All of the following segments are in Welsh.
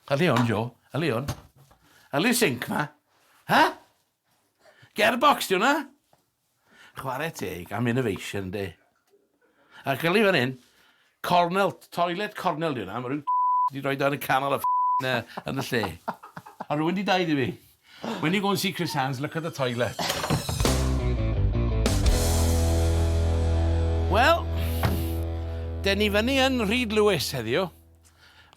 Heli on, Jo. Heli on. Heli sinc ma. Ha? Gearbox di hwnna? Chwarae teg am innovation, de. A gyli fan hyn, cornel, toilet cornel di hwnna, mae rhyw di roi dan y canol a yn y lle. A rwy'n di dau di fi. When you go and see Chris Hands, look at the toilet. Wel, den ni fyny yn Rhyd Lewis heddiw.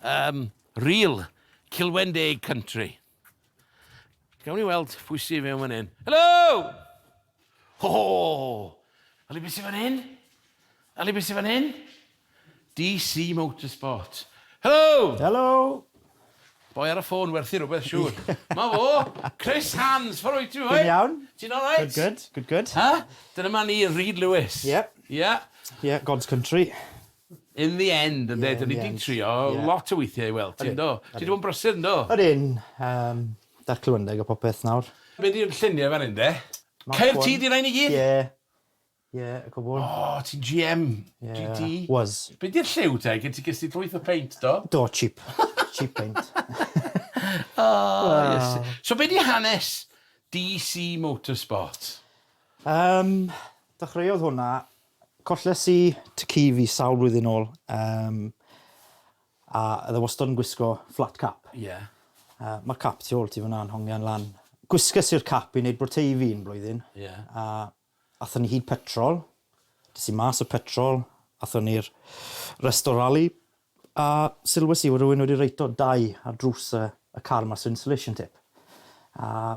Um, real Cilwen Deg Country. Gawn ni weld pwy sy'n mewn fan hyn. Helo! Ho ho! Ali beth sy'n fan hyn? Ali beth sy'n fan hyn? DC Motorsport. Helo! Helo! Boi ar y ffôn werthu rhywbeth, siŵr. Ma fo, Chris Hands, ffordd wyt ti, boi? Dwi'n iawn. Ti'n all right? Good, good, good, good. Ha? Dyna ma ni, Reed Lewis. Yep. Yeah. Yeah, God's Country. In the end ynde? Ie in the end. 'Da ni 'di trio lot o weithie i weld ti yndo? Ti 'di bod yn brysur yndo? Odyn, yym 'da'r clywendeg a popeth nawr. Be 'di'r llunie fan 'yn de? Caerdydd di rain i gyd? Ie. Ie y cwbwl. O ti'n GM GT? Ie was. Be 'di'r lliw te? Gen ti ges di llwyth o peint do? Do cheap cheap paint. O Iesu. So be 'di hanes DC Motorsport? Yym dechreuodd hwnna Colles i tŷ ci fi sawl blwyddyn nôl yym a oedd e wastod yn gwisgo flat cap. Ie. A mae'r cap tu ôl ti fan'na yn hongian lan. Gwisges i'r cap i wneud bwrte i fi un blwyddyn. Ie. A athon ni hyd petrol. Des i mas o petrol, athon ni'r resto rali a sylwes i fod rhywun wedi reito dau ar drws y y car 'ma so insulation tape. A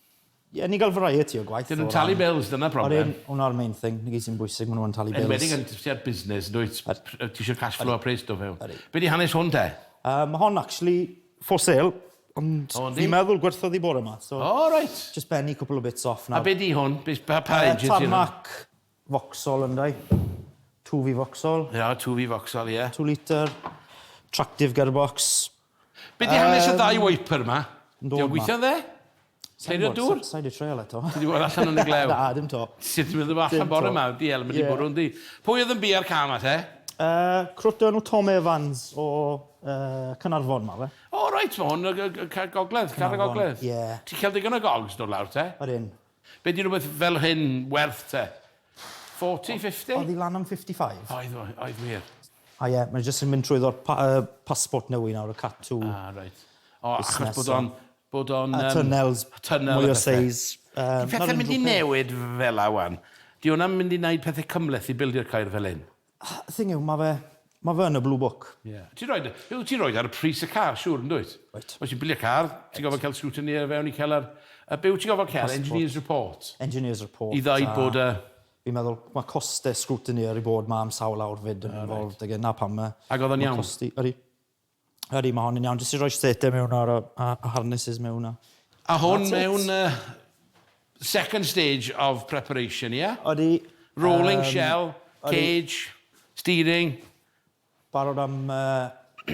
Ie, ni'n cael variety o gwaith. Dyn nhw'n talu bills, dyna problem. Hwna'r main thing, ni gyd sy'n bwysig, maen nhw'n talu bills. Enwedig yn tua'r busnes, yn dwyt? Ti eisiau cash flow a pres do fewn. Be di hanes hwn te? Mae hon actually for sale, ond fi'n meddwl gwerthoedd i bore ma. O, reit. Just penny cwpl o bits off nawr. A be di hwn? Pa age ydy hwn? Tarmac Vauxhall ynddo. Twf i Vauxhall. Ia, twf i Vauxhall, ie. Two litre, tractive gearbox. Be di hanes y ddau wiper ma? Di o'n gweithio'n dde? Cleirio dŵr? Sa i di treial eto. Ti di bod allan yn y glew? Na, dim to. Ti di bod allan bore ma, di el, mynd i bwrw yndi. Pwy oedd yn bia'r car ma te? Croto enw Tom Evans o Cynarfon ma fe. O reit, ma hwn y car gogledd, car y gogledd. Ie. Ti'n cael digon o gogs dod lawr te? Odyn. Be di rhywbeth fel hyn werth te? Forty, fifty? Oedd hi lan am fifty five? Oedd, oedd wir. O ie, mae jyst yn mynd trwyddo'r passport newydd nawr, y Cat-to. Ah, reit. O, achos bod o'n, bod o'n... A tunnels, mwy o seis. Di pethau'n mynd i newid fela wan? Di hwnna'n mynd i wneud pethau cymhleth i bildio Caer fel hyn? Thing yw, ma' fe, ma' fe yn y Blue Book. Ie. Ti'n rhoi dy... Yw, ti'n rhoi e ar y pris y car, siŵr, yn dwyt? Wyt. Os ti'n bilio car, ti'n gorfod cael scrutiny ar fewn i cael yr... A be wyt ti'n gorfod cael? Passport. Engineer's report? Engineer's report a... I ddeud bod y... Fi'n meddwl, ma' coste scrutiny ar ei bod ma am sawl awr 'fyd yn involved ag e, 'na pam ma'... Ag oedd o'n iawn? ...ma' costi... Ydi. Ydy, mae hon yn iawn. Jyst i roi state mewn ar y harnesses mewn. A hwn mewn second stage of preparation, ie? Ydy. Rolling shell, cage, steering. Barod am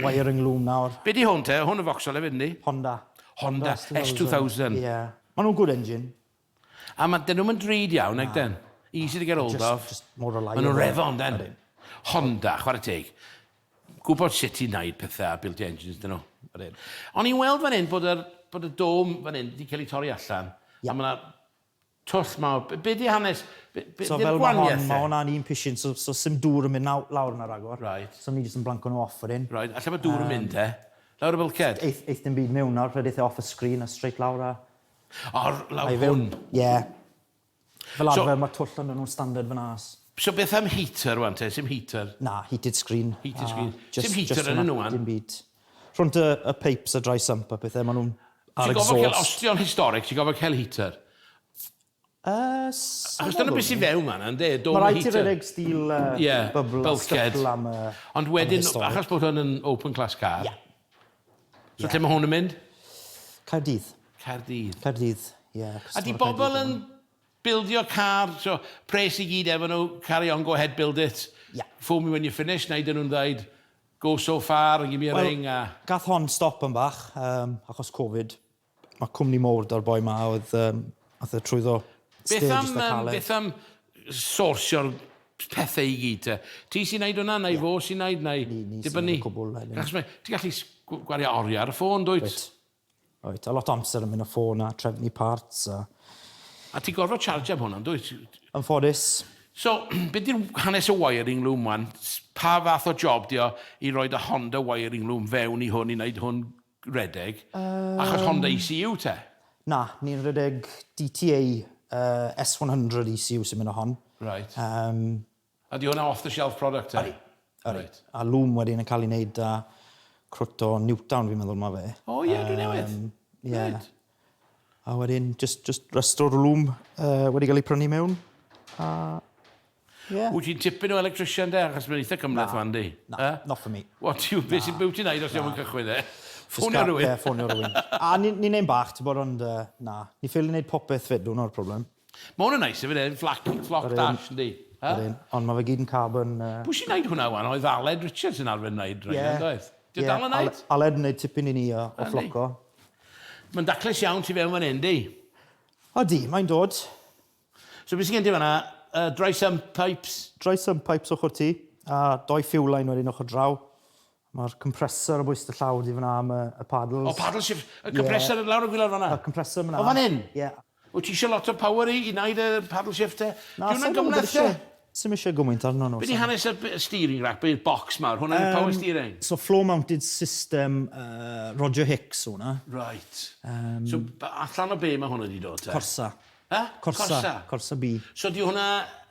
wiring loom nawr. Be di hwn te? Hwn yn Vauxhall hefyd, yndi? Honda. Honda S2000. Ie. Maen nhw'n good engine. A ma'... 'dyn nhw'm yn drud iawn nag 'dyn? Easy to get hold of. Jyst jyst mor reliable. Ma' nhw'n reddf on' 'dyn? Odyn. Honda, chware teg. Gwbod sut i wneud pethe a built engines 'dyn nhw. Odyn. O'n i'n weld fan 'yn bod yr bod y dome fan 'yn 'di cael ei torri allan. Ie. A ma' 'na twll mawr. B- be' 'di hanes? Be' be' 'di'r gwanieth 'de? So fel ma' hon, ma' hwnna'n un pishin so so sim dŵr yn mynd naw- lawr yna ragor. Reit. So ni jyst yn blanco nhw off wedyn. Reit, a lle ma' dŵr yn mynd te? Lawr y bulkhead? Eith- eith dim byd miwn nawr, rhedith e off y screen a straight lawr a Ar lawr hwn? Ie. Fel arfer so, mae twll yn nhw'n standard fan as. So beth am heater wan te? Sim heater? Na, heated screen. Heated screen. Just, Sim heater yn nhw wan? Dim byd. Rhwnt y, y pipes a dry sump a pethau, maen nhw'n ar exhaust. Ti'n gofod cael, os ti'n historic, ti'n gofod cael heater? Uh, Achos dyna beth sy'n fewn man, ynddo? Mae rhaid ti redeg stil uh, yeah, bubble, bulkhead. Am, uh, Ond wedyn, achos bod hwn yn open class car, yeah. So yeah. lle mae hwn yn mynd? Caerdydd. Caerdydd. Caerdydd, ie. Yeah, a di bobl yn bildio car, so pres i gyd efo nhw, carry on, go ahead, build it. Yeah. Fool me when you finish, na i dyn nhw'n dweud, go so far, give me a well, ring. A... Gath hon stop yn bach, um, achos Covid. Mae cwmni mowr da'r boi ma oedd um, ath e trwyddo Beth am, um, beth am sorsio'r pethau i gyd te? Ti sy'n neud hwnna, neu yeah. fo sy'n neud, neu ni, ni dibynnu? Ti'n gallu gwario oriau ar y ffôn, dwyt? Right. Right. A lot o amser yn mynd o ffôn a trefnu parts a... A ti'n gorfod charge am hwnna, dwyt? Yn ffodus. So, beth di'r hanes o wiring loom wan? Pa fath o job di o i roed y Honda wiring loom fewn i hwn i wneud hwn Rhedeg? Achos Honda ECU te? Na, ni'n rhedeg DTA S one hundred ECU sy'n mynd â hon. Reit. A 'di hwnna off the shelf product te? Ydi. Reit. A lwm wedyn yn cael ei wneud â crwt o Newtown fi'n meddwl ma' fe. O ie, dwi newydd. Ie. Reit. A wedyn just, just rest o'r lwm uh, wedi cael ei prynu mewn. A... Yeah. Wyt ti'n tipyn o electrician de, achos mae'n eitha cymleth fan di? Na, uh? not for me. What, you, beth sy'n byw ti'n aid os ti'n mynd cychwyn e? Ffonio rhywun? Ie, ffonio rhywun. A ni'n ni ein bach, ti'n bod, ond uh, na. Ni ffeili wneud popeth fedwn o'r problem. Ma hwn yn neis hefyd hefyd, flac, flock dash yndi? Yr un, ond ma fe gyd yn carbon yy... Pwy sy'n neud hwnna wan, oedd Aled Richards sy'n arfer neud rhein yn doedd? Ie, ie, Aled yn neud? Aled yn neud tipyn i ni o ffloco. Ma'n daclus iawn tu fewn fan hyn yndi? Odi, mae'n dod. So be sy gen ti fanna, yy dry sump pipes? Dry sump pipes ochr ti, a doi fuel line wedyn ochr draw. Mae'r compressor o bwys dy llaw di fan'na am y paddles. O paddle shift. Y compressor yn lawr y gwilod fan'na? Y compressor fan'na. O fan hyn? Ie. Wyt ti eisiau lot o power i wneud y paddle shift te? Na, sa i'n gwybod isie. Sa i'n eisiau gymaint arno nhw. Be di hanes y steering rack, y box mawr? Hwnna yw power steering? So floor mounted system Roger Hicks yw hwnna. Reit. So allan o be mae hwnna di dod te? Corsa. He? Corsa. Corsa B. So di hwnna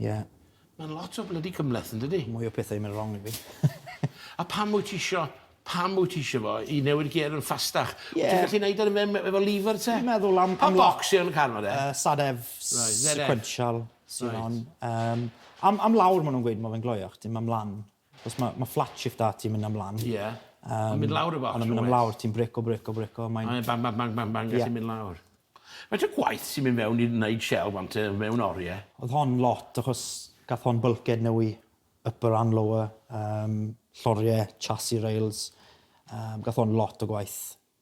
Ie. Mae'n lot o blydi cymhleth yndydi? Mwy o pethau yn mynd rong i fi. A pam wyt ti isio pam wyt ti isio fo i newid gêr yn ffastach? Ie. Wyt ti'n gallu neud e efo efo lever te? Dwi'n meddwl am am... Pa focs sy yn y car ma de? Yy sad ef sequential sy on. Yym am am lawr ma' nw'n gweud ma' fe'n gloiach dim am lan. Achos ma' ma' flat shift 'da ti mynd am lan. Ie. Yym. Ma'n mynd lawr y bocs. Ond yn myn' am lawr ti'n brico brico brico a mae'n... A mae'n bang bang bang bang bang a ti'n mynd lawr. Faint o gwaith sy'n mynd fewn i neud shelf am te mewn orie? Odd hon lot achos gath hon bulkhead newy upper and lower yym llorie chassis rails yym gath hon lot o gwaith.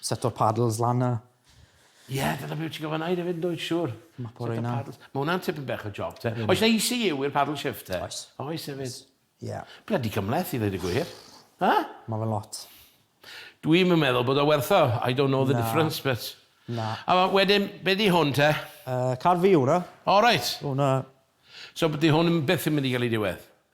Set o'r paddles lan 'na. Ie, dyna be wyt ti'n gorfod wneud hefyd, yn dwyt, siŵr. Mapo rheina. Mae hwnna'n tipyn bach o job, te. Oes 'na ECU i'r paddle shift, te? Oes. Oes hefyd? Ie. Blydi cymhleth, i ddweud y gwir. Ha? Mae fe'n lot. Dwi'm yn meddwl bod o werth o. I don't know the difference, but... Na. A wedyn, be di hwn, te? Yy, car fi yw hwnna. O, reit. Hwnna. So, dydy hwn byth yn mynd i gael ei diwedd?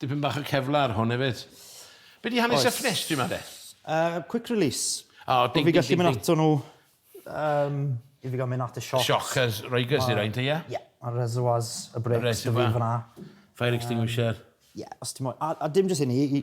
Dipyn bach o Kevlar hwn efyd. Be di hanes y ffenestri ma de? Uh, quick release. Oh, ding, ding, ding, ding. Ato nhw, um, i fi gael mynd at y sioc. Sioc as Rygers i rhain te, ie? Ie, a reservoirs y breaks dy fi fyna. Fire extinguisher. Ie, os ti'n moyn. A, a dim jyst hynny,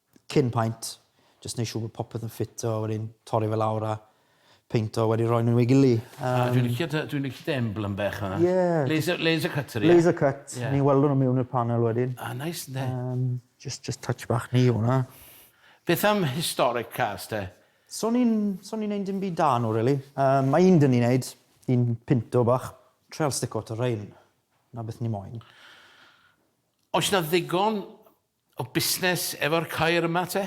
cyn paent, jyst neud siŵr bod popeth yn ffito a wedyn torri fe lawr a peinto a wedi roi nhw i gily. A dwi'n licio dy dwi'n licio dy emblem bach fan'na. Ie. Laser laser cutter ie? Laser cut. Ie. Ni'n welw nhw mewn i'r panel wedyn. A neis ynde? Yym jyst jyst touch bach ni yw hwnna. Beth am historic cars te? So ni'n so ni'n neud dim byd da nhw rili. Yym ma' un 'da ni'n neud, un pinto bach. Trial stick o to rain. 'na beth ni moyn. Oes 'na ddigon O busnes efo'r coir yma te?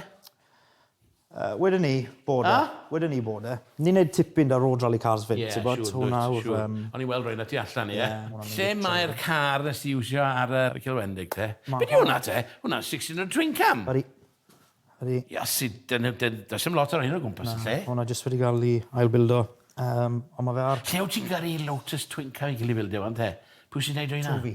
Uh, wedyn ni, bod e. Ah? Wedyn ni, bod e. Ni'n neud tipyn da Road Rally Cars fyd, yeah, ti'n bod? Sure, hwnna yw'r... Sure. Um... O'n i'n weld rhywun ati allan, ie. Yeah, Lle mae'r car nes ti iwsio ar y uh, Cilwendig, te? Be di hwnna, te? Hwnna, 600 twin cam. Ydy. Ydy. Ia, si, does dim lot o'r hyn o gwmpas y lle. Hwna jyst wedi cael ei ailbildo. Um, ond mae fe ar... Lle wyt ti'n gyrru Lotus Twin Car i Gilifildio, fan te? Pwy sy'n neud o hynna? Tofi.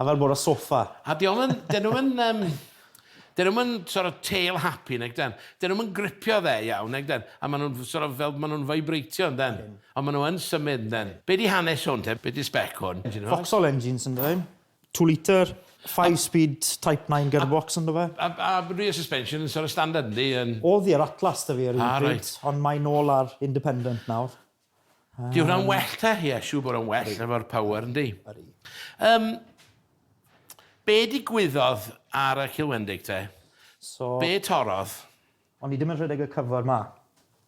A fel bod ar soffa. A dyn nhw'm yn, dyn nhw'm yn yym, dyn nhw'm yn sort of tail happy nag ydyn. Dyn nhw'm yn gripio dde iawn nag ydyn. A maen nhw'n sort of fel, maen nhw'n vibrateio yndyn. Ond maen nhw yn symud yndyn. Be di hanes hwn te? Be di spec hwn? Vauxhall engines yn dydyn. Two litre, five speed type nine gearbox yn do fe. A a rear suspension yn sort of standard yndi yn? O'dd hi ar Atlas da fi ar un pryd. Ah reit. Ond mae nôl ar independent nawr. Di hwnna'n well te? Ie, yeah, siw bod o'n well efo'r power, yndi? Um, be digwyddodd ar y Cilwendig te? So, be torodd? O'n i ddim yn rhedeg y cyfr ma.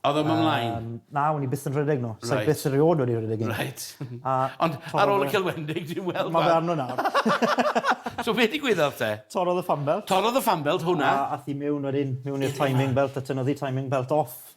Oedd o'n ymlaen? Um, na, o'n i byth yn rhedeg nhw. Right. Sa'i byth rhywod wedi rhedeg un. Right. A, Ond ar ôl y celwendig, ti'n weld... Mae fe arno nawr. so beth i gwyddodd te? Torodd y fan belt. Torodd y fan belt, hwnna. A, a thi mewn wedyn, mewn i'r timing belt, a tynoddi timing belt off.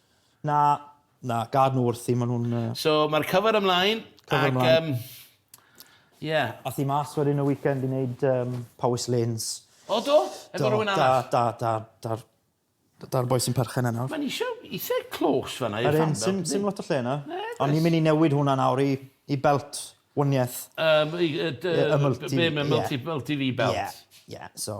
Na, na, gad nhw wrthi, maen nhw'n... Yy... So, mae'r cyfer ymlaen. Cyfer ymlaen. Ac, ie. Um, Ath i mas wedyn y weekend i wneud um, Powys Lanes. O, do? Efo rhywun arall? Da, da, da, da. Da'r boi sy'n perchen yna. Mae'n eisiau eitha clos fanna i'r fan. Sim, sim lot o lle yna. Ond ni'n mynd i newid hwnna nawr i, i belt wniaeth. Um, y, y, y, y multi, be, yeah. multi, multi V belt. Yeah, yeah, so.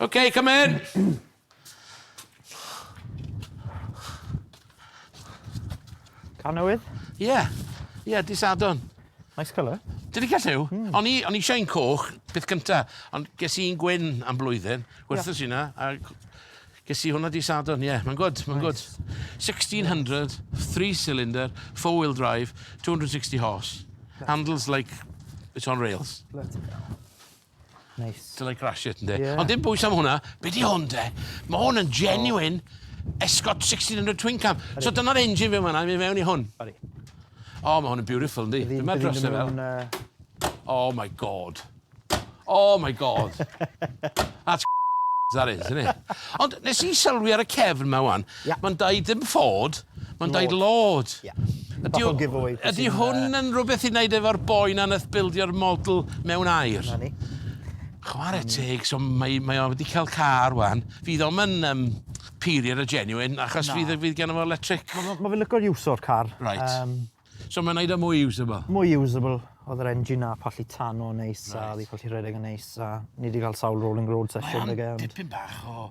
Okay, come in. Car newydd? Ie. Yeah. Ie, yeah, disadon. Nice colour. Dyn ni gallu? Mm. O'n i, on i eisiau un coch, beth cynta, ond ges i'n gwyn am blwyddyn, gwerthus yeah. yna, a ges i hwnna di sadon, ie, yeah, mae'n gwrdd, mae'n gwrdd. 1600, 3 cylinder, 4 wheel drive, 260 horse, handles like it's on rails. Neis. Dyle grash it, ynddi. Yeah. Ond dim bwys am hwnna. Be di hwn, de? Mae hwn yn genuine oh. Escort 1600 Twin Cam. Ori. So dyna'r engine fi yma, mi mewn i hwn. Ori. O, oh, mae hwn yn beautiful, ynddi. Be mae dros e fel? Uh... Oh my god. Oh my god. That's that is, isn't it? Ond nes i sylwi ar y cefn yma wan, Ie. Mae'n deud dim ffod, mae'n deud Lord. lord. Ie. Ydy Bach o o- giveaway pwy Ydy sy'n, yy- hwn yn rhywbeth i wneud efo'r boi 'na nath bildio'r model mewn aer? 'Na ni. Chware teg, so mae mae o wedi cael car ŵan. Fydd o'm yn yym period a genuine achos Na. fydd yy fydd geno fo electric. Ma' ma' ma' fe'n lico'r use o'r car. Reit. Yym. So mae'n neud o mwy usable? Mwy usable. O'dd yr engine 'na pallu tano yn neis a Reit. o'dd 'i pallu rhedeg yn neis a ni 'di ga'l sawl rolling road session 'da fe ond... Mae o'n dipyn bach o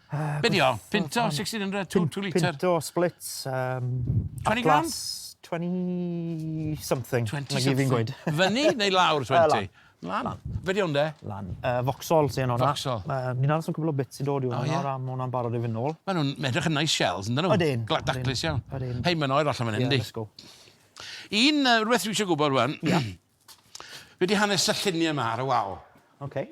Be di o? Pinto 1600, 2 2 litre? Pinto split, um, 20 gram? 20 something. 20 something. fi'n gweud. Fyny neu lawr 20? Lan. Lan. Lan. Fe di o'n de? Lan. Uh, Voxol sy'n yna. Voxol. Uh, Ni'n aros yn cwbl o bits i dod i hwnna, oh, yeah. hwnna'n barod i fy nôl. Mae nhw'n edrych yn nice shells, yn dyn nhw? Odyn. Glad daclus iawn. Odyn. Hei, mae'n oer allan fan hyn, di. Un, uh, rhywbeth rwy'n eisiau gwybod, rwan. Yeah. Fe di hanes y lluniau yma ar y wal. Okay.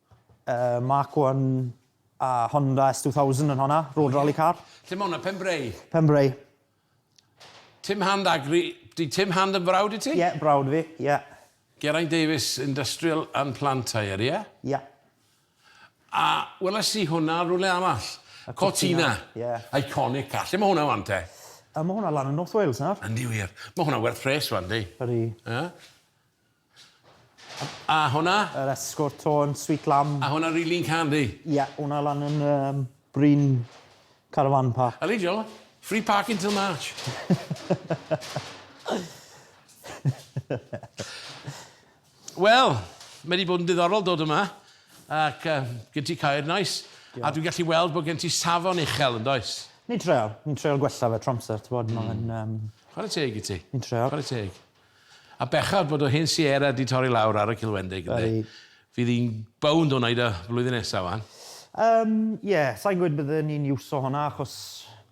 Yy Mark one a Honda S two thousand yn honna, road rally car. Lle ma' hwnna? Penbrae? Penbrae. Tim Hand Agri, 'di Tim Hand yn frawd i ti? Ie, brawd fi, ie. Geraint Davies Industrial and Plant Hire, ie? Ie. A weles i hwnna rywle arall. Y Cortina. Cortina, ie. Iconic car. Lle ma' hwnna ŵan te? Yy ma' hwnna lan yn North Wales nawr. Yndi wir. Ma' hwnna werth pres ŵan yndi? Ydi. Yy? A hwnna? Yr esgor tôn, sweet lamb. A hwnna rili'n can di? Ie, hwnna lan yn um, Bryn Caravan Park. Yli, Joe. Free parking till March. Wel, mae wedi bod yn diddorol dod yma ac uh, gen ti cair nais. Nice. A dwi'n gallu weld bod gen ti safon uchel yn does? Ni'n treol. Ni'n treol gwella fe tramser, ti'n bod. Mm. Mae'n... Um... Chwarae teg i ti. Ni'n treol. Chwarae teg. A bechod bod yr hen Sierra 'di torri lawr ar y Cilwendeg, ynde? Fydd hi'n bownd o wneud o flwyddyn nesa, wan. Yym, ie, sa i'n gweud bydden ni'n iwso hwnna achos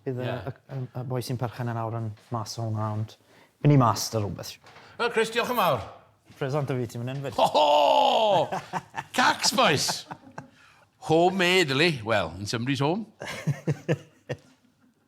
bydd y y y boi sy'n perchen yn awr yn mas o hwnna, ond by' ni mas 'da rwbeth, siŵr. Wel, Chris, diolch yn fawr. Pres â fi ti myn 'yn 'fyd. Ho ho! Cacs, bois! Home made, yli? Wel, in somebody's home.